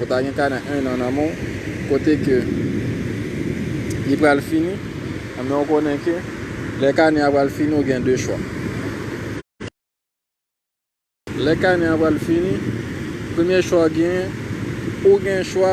Ou ta gen kanè 1 an nan men w kote ke li pral fini, men ou konnen ke lè kanè a pral fini ou gen 2 chwa. Lè kanè a pral fini, premye chwa ou genyen, ou gen chwa.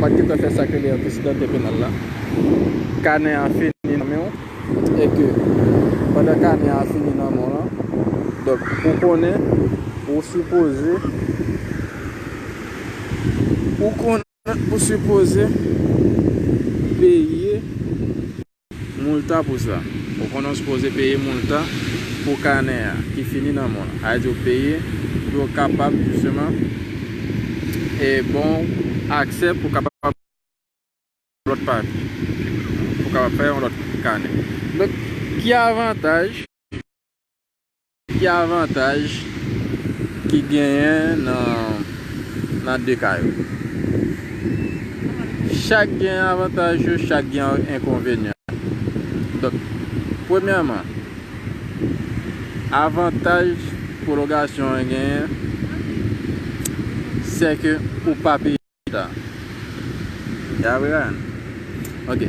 Ou pat gentan fè sak rele antesidante penal la. Kanè a fini nan menw e ke pandan kanè a fini nan menw lan donk ou konnen ou sipoze ou konnen ou sipoze peye. Multa pou sa. Ou konnen w sipoze peye multa pou kanè a ki fini nan men w. Sa vle di w peye pou yo kapab jisteman ban w aksè pou w kapab fè yon lòt papye, pou w kapab fè yon lòt kanè. Donk, ki avantaj? Ki avantaj ki genyen nan 2 ka yo? Chak gen avantaj yo, chak gen enkonvenyan. Donk, premyèman, avantaj pwolongasyon an genyen, se ke ou pa peye leta. Ya vre an? Ok.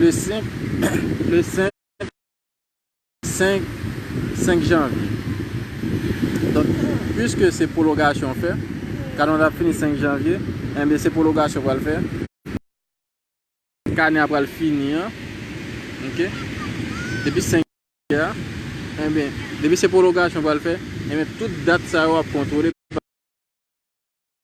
Le 5 janvye, donk pwiske se pwolongasyon w fè, kanè w la ap fini 5 janvye, enben se pwolongasyon w pral fè, kanè a pral fini an, ok, depi 5 janvye a, enben, depi se pwolongasyon w pral fè, enben tout dat sa yo ap kontwole pa.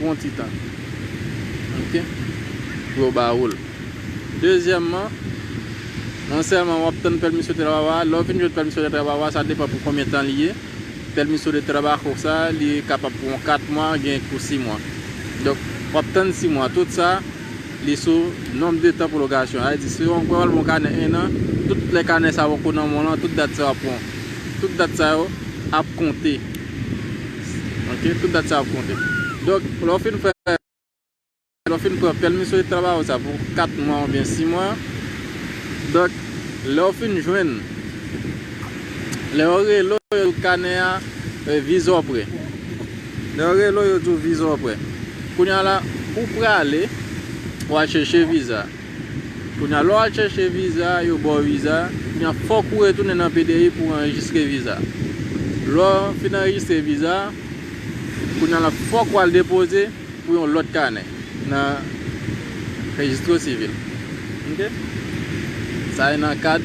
Pou yon ti tan. Ok. Pou yo ba woul. Dezyèmman, non sèlman wap tann permiso de trabajo a, lè ou fin jwenn permiso de trabajo a, sa depan pou konbyen tan li ye. Permiso de trabajo sa, li kapab pou yon 4 mwa, gen ki pou 6 mwa. Donk, wap tann 6 mwa. Tout sa, li sou nonb de tan pwolongasyon. Sa vle di, si yon pral bon kanè 1 an, tout lè kanè sa poko nan men w lan, tout dat sa yo ap pran. Tout dat sa yo ap konte. Ok tout dat sa ap konte. Donk lè w fin fè lè w fin pran pèmisyon de travay ou sa pou 4 mwa oubyen 6 mwa donk lè w fin jwenn lè yo rele w yo di w kanè a viza w prè lè yo rele w yo di w viza w prè kounye a la ou prale wal chèche viza. Kounya lè w al chèche viza, yo ba w viza, kounya fòk ou retounen nan PDI pou anrejistre viza. Lè w fin anrejistre viza, kounya la fòk ou al depoze pou yon lòt kanè nan Registro Civil. Ok. Sa e nan kad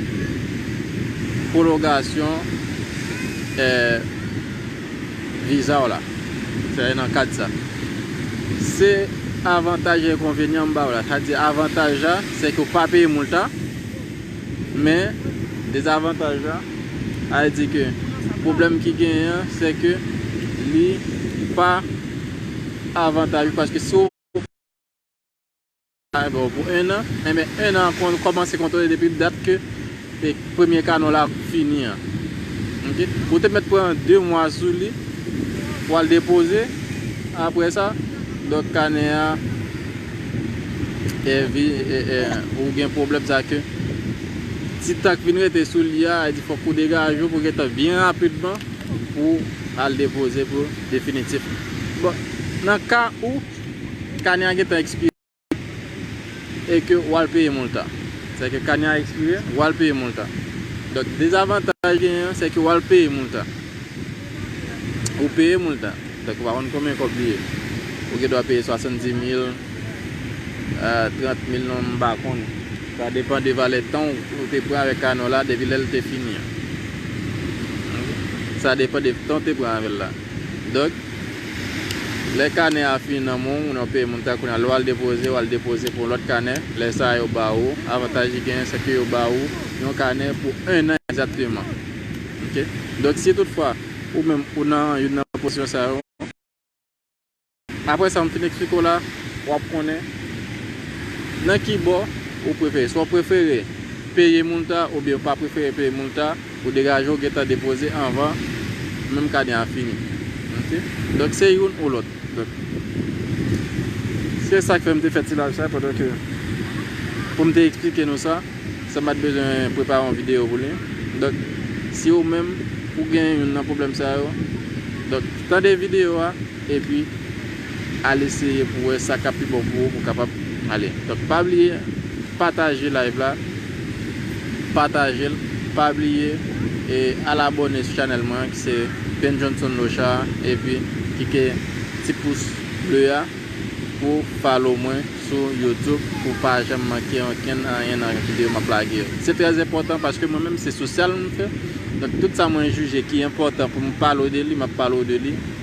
pwolongasyon. Vizaw la. Sa e nan kad sa. Se avantaj e enkonvenyan m baw la. Sa di avantaj la, se ke w pa peye mult la. Men, dezavantaj la, a di ke pwoblèm ki genyen an, se ke li pa avantaj ou paske si w. Ay bon pou 1 an. Enben 1 an an kòmanse kontole depi dat ke premye kanon la fini an. Ok. Ou te mèt pran 2 mwa sou li pou al depoze. Aprè sa, donk kanè a ou gen pwoblèm sa ke ti tan ki vin rete sou li a, e di fòk ou degaje ou pou gen tan byen rapidman pou al depoze pou definitif. Bon, nan ka ou. Kane a gentan ekspire e ke ou al peye molta. Sa vle di ke kane a ekspire, ou al peye molta. Donk dezavantaj genyen an, se ke ou al peye molta. Ou peye molta. Donk ou pa konn konbyen kòb li ye. Ou gen dwa peye 70 mil, 30 mil non m pa konn. Sa depan de valè tan ou te pran avèk kane w la depi lè l te fini an. Sa depan de tan ou te pran avè l la. Donk, lè kanè a fini nan men w, nan peyi moun ta, kounye a lè w al depoze, w al depoze pou yon lòt kanè, lè sa a yo ba ou, avantaj li genyen se ke yo ba ou yon kanè pou ennan egzakteman. Ok. Donk si tout fwa ou menm ou nan youn nan pozisyon sa yo, Aprè sa m fin eksplike w la, w ap konnen nan ki bò ou prefere. Swa w prefere peye moulta oubyen ou pa prefere peye moulta, ou degaje w gentan depoze anvan menm kane a fini. Ok. Donk se youn ou lòt. Donk, se sa k fè m te fè ti live sa pandan ke pou m te eksplike nou sa, san m pa t bezwen prepare yon videyo pou li. Donk, si ou menm ou gen youn nan pwoblèm sa yo, donk tande videyo a. Epi, al eseye pou wè sa k ap pi bon pou ou pou w kapab ale. Donk, pa bliye pataje live la, pataje l, pa bliye e al abòne sou chanèl mwen an ki se Ben Johnson Lochard epi klike ti pous ble a pou w follow mwen sou YouTube pou w pa janm manke ankenn anyen nan videyo m ap lage yo. Se trè enpòtan paske mwen menm se sosyal m fè, donk tout sa mwen jije ki enpòtan pou m pale w de li, m ap pale w de li.